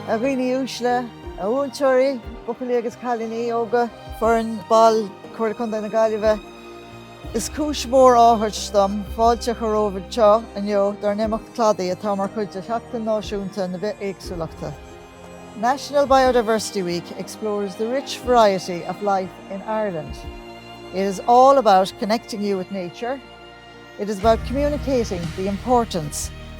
A dhaoine uaisle, a mhúinteoirí, buachaillí agus cailíní óga, foireann, ball, Comhairle Contae na Gaillimhe, Is cúis mhór áthais dom fáilte a chur romhaibh anseo inniu dár n-imeacht Cladaí atá mar chuid de Sheachtain Náisiúnta na Bithéagsúlachta National Biodiversity Week explores the rich variety of life in Ireland. It is all about connecting you with nature, it is about communicating the importance.